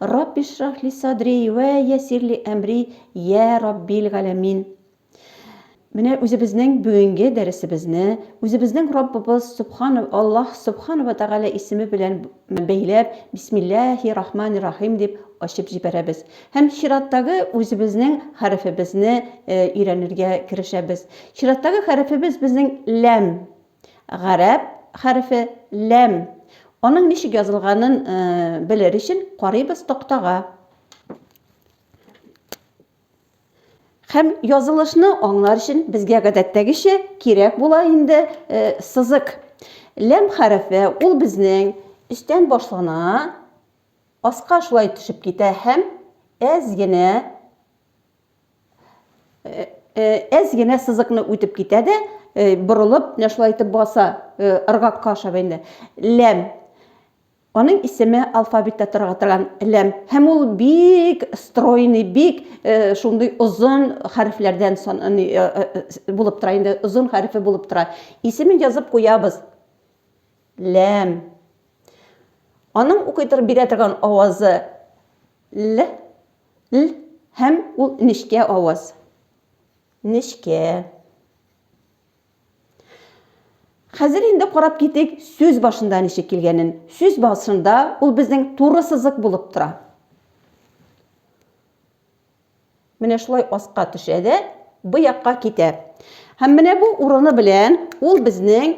Рабби шрахли садри вә ясирли әмри йә Раббил галәмин. Менә үзебезнең бүгенге дәресебезне үзебезнең Раббыбыз Субхана Аллаһ Субхана вә Тәгалә исеме белән бәйләп, Бисмиллаһи рахмани рахим дип ачып җибәрәбез һәм чираттагы үзебезнең хәрефебезне өйрәнергә керешәбез. Чираттагы хәрефебез безнең ләм. Гарәп хәрефе ләм. Аның ничек язылганын белер өчен карыйбыз тактага. Һәм язылышны аңлар өчен безгә гадәттәгечә кирәк була инде э, сызык. Ләм хәрефе ул безнең өстән башлана, аска шулай төшеп китә һәм әз генә әз генә сызыкны үтеп китә дә борылып менә шулай итеп баса ыргакка ашап инде ләм аның исеме алфавитта торырга торган ләм һәм ул бик стройный бик шундый озын хәрефләрдән булып тора инде озын хәрефе булып тора исемен язып куябыз ләм аның укый торып бирә торган авазы Л, л һәм ул нечкә аваз. Нечкә. Хәзер инде карап китик сүз башында ничек килгәнен. Сүз башында ул безнең туры сызык булып тора. Менә шулай аска төшә дә, бу якка китә. Һәм менә бу урыны белән ул безнең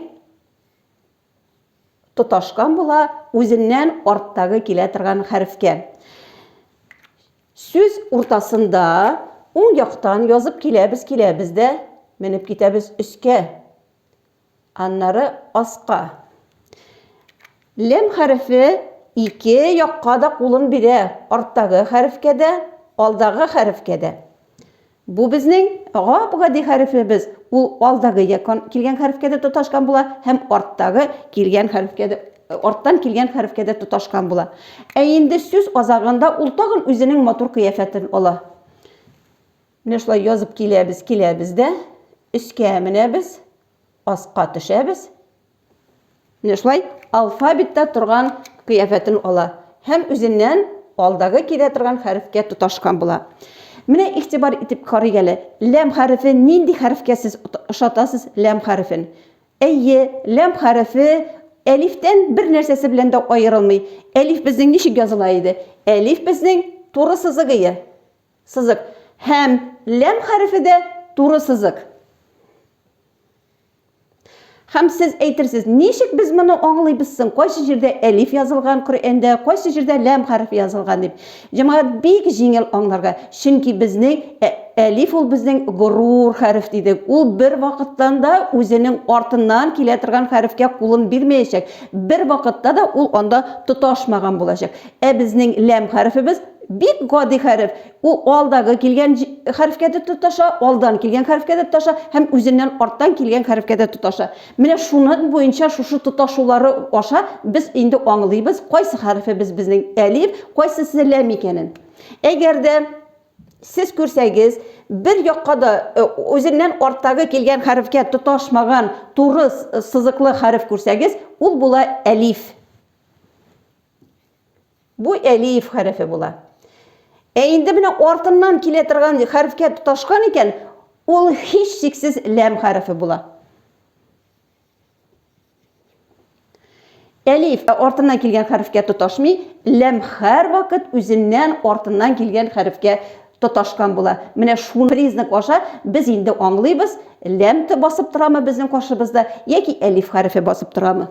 тоташкан була үзеннән арттагы килә торган хәрефкә. Сүз уртасында уң яктан язып киләбез, киләбез дә менеп китәбез өскә. Аннары аска. Лем хәрефе ике якка да кулын бирә, арттагы хәрефкә дә, алдагы хәрефкә дә. Бу безнең гап-гади хәрефебез, ул алдагы якон килгән хәрефкә дә тоташкан була һәм арттагы килгән хәрефкә дә, арттан килгән хәрефкә дә тоташкан була. Ә инде сүз азагында ул тагын үзенең матур кыяфәтен ала. Менә шулай язып киләбез, киләбез дә, өскә менәбез, аска төшәбез, Менә шулай алфавитта торган кыяфәтен ала һәм үзеннән алдагы килә торган хәрефкә тоташкан була. Менә игътибар итеп карыйк әле, ләм хәрефе нинди хәрефкә сез ошатасыз ләм хәрефен? Әйе, ләм хәрефе әлифтән бер нәрсәсе белән дә аерылмый. Әлиф безнең ничек языла иде? Әлиф безнең туры сызык ие. Сызык. Һәм ләм хәрефе дә туры сызык. Хәм сез әйтерсез, ничек без моны аңлыйбыз соң? Кайсы җирдә әлиф язылган Коръәндә, кайсы җирдә ләм хәрефе язылган дип. Җәмәгать бик җиңел аңларга, чөнки безнең ә, әлиф ул безнең горур хәреф дидек. Ул бер вакыттан да үзенең артыннан килә торган хәрефкә кулын бирмәячәк, бер вакытта да ул анда тоташмаган булачак. Ә безнең ләм хәрефебез бик гади хәреф, Ул алдагы килгән хәрефкә дә тоташа, алдан килгән хәрефкә дә тоташа һәм үзеннән арттан килгән хәрефкә дә тоташа. Менә шуның буенча шушы тоташулары аша без инде аңлыйбыз, кайсы хәрефебез безнең әлиф, кайсысы ләм икәнен. Әгәр дә сез күрсәгез, бер якка да үзеннән арттагы килгән хәрефкә тоташмаган туры сызыклы хәреф күрсәгез, ул була әлиф. Бу әлиф хәрефе була. Ә инде менә артыннан килә торган хәрефкә тоташкан икән, ул һичшиксез ләм хәрефе була. Әлиф ә артыннан килгән хәрефкә тоташмый, ләм һәрвакыт үзеннән артыннан килгән хәрефкә тоташкан була. Менә шуны признак аша без инде аңлыйбыз, ләм тә басып торамы безнең каршыбызда яки әлиф хәрефе басып торамы.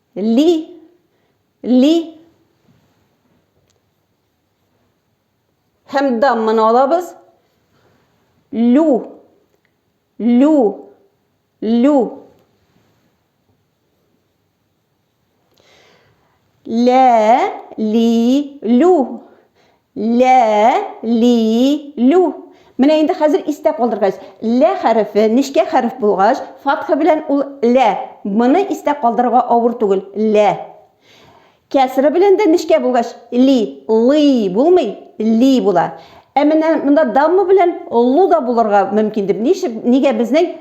Ли. Ли. Һәм дамманы алабыз. Лю. Лю. Лю. Лә, ли, лю. Лә, ли, лю. Менә инде хәзер истә калдыргач, лә хәрефе нечкә хәреф булгач, фатха белән ул лә. Моны истә калдырырга авыр түгел, лә. Кәсра белән дә нечкә булгач, ли, лый булмый, ли була. Ә менә монда дамма белән лу да булырга мөмкин дип, ничек, нигә безнең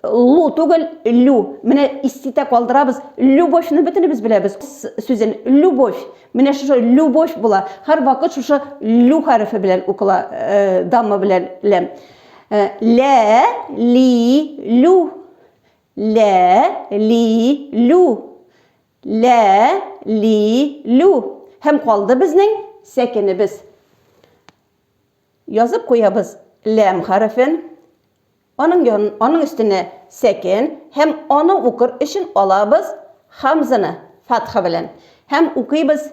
Лу түгел, лю. Менә иститә калдырабыз. Любовьны бөтенебез беләбез. Сүзен любовь. Менә шушы любовь була. Һәр вакыт шушы лю хәрефе белән укыла, э, дамма белән ләм. Э, лә, ли, лю. Лә, ли, лю. Лә, ли, лю. Һәм калды безнең сәкенебез. Язып куябыз ләм хәрефен. Аның ян, аның өстенә сәкен һәм аны укыр өчен алабыз хамзаны фатха белән һәм укыйбыз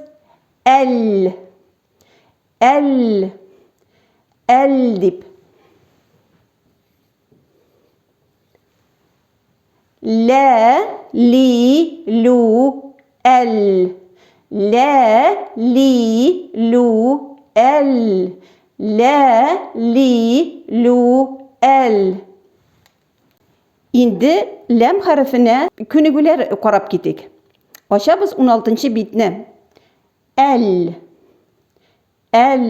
әл, әл, әл дип. Лә, ли, лю, әл. Лә, ли, лю, әл. Лә, ли, лю, әл. Инде ләм хәрефенә күнегүләр карап китик. Ачабыз 16 битне. Әл. Әл.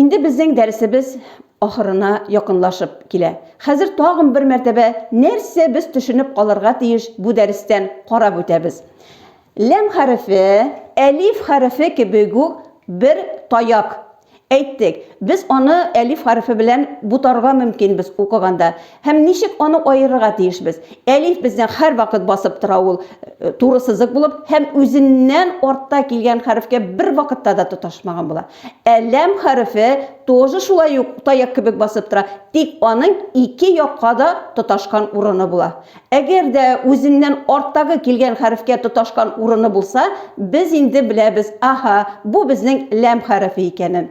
Инде безнең дәресебез ахырына якынлашып килә. Хәзер тагын бер мәртәбә нәрсә без төшенеп калырга тиеш бу дәрестән карап үтәбез. Ләм хәрефе, әлиф хәрефе кебек үк бер таяк. Әйттек, без аны әлиф хәрефе белән бутарга мөмкин без укыганда. Һәм ничек аны аерырга тиешбез? Әлиф безне һәрвакыт басып тора, ул туры сызык булып һәм үзеннән артта килгән хәрефкә бер вакытта да тоташмаган була. Ә ләм хәрефе тоже шулай ук таяк кебек басып тора, тик аның ике якка да тоташкан урыны була. Әгәр дә үзеннән арттагы килгән хәрефкә тоташкан урыны булса, без инде беләбез, аһа, бу безнең ләм хәрефе икәнен.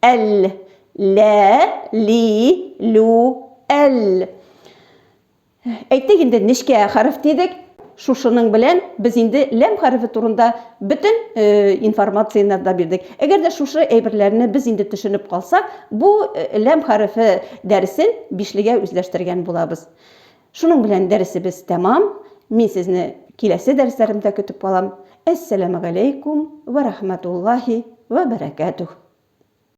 Әл, лә, ли, лю, әл. Әйттек инде, нечкә хәреф дидек. Шушының белән без инде ләм хәрефе турында бөтен э, информацияне да бирдек. Әгәр дә шушы әйберләрне без инде төшенеп калсак, бу э, ләм хәрефе дәресен бишлегә үзләштергән булабыз. Шуның белән дәресебез тәмам. Мин сезне киләсе дәресләремдә көтеп калам. Әссәламәгаләйкүм вә рахмәтуллаһи вә бәрәкәтүһ.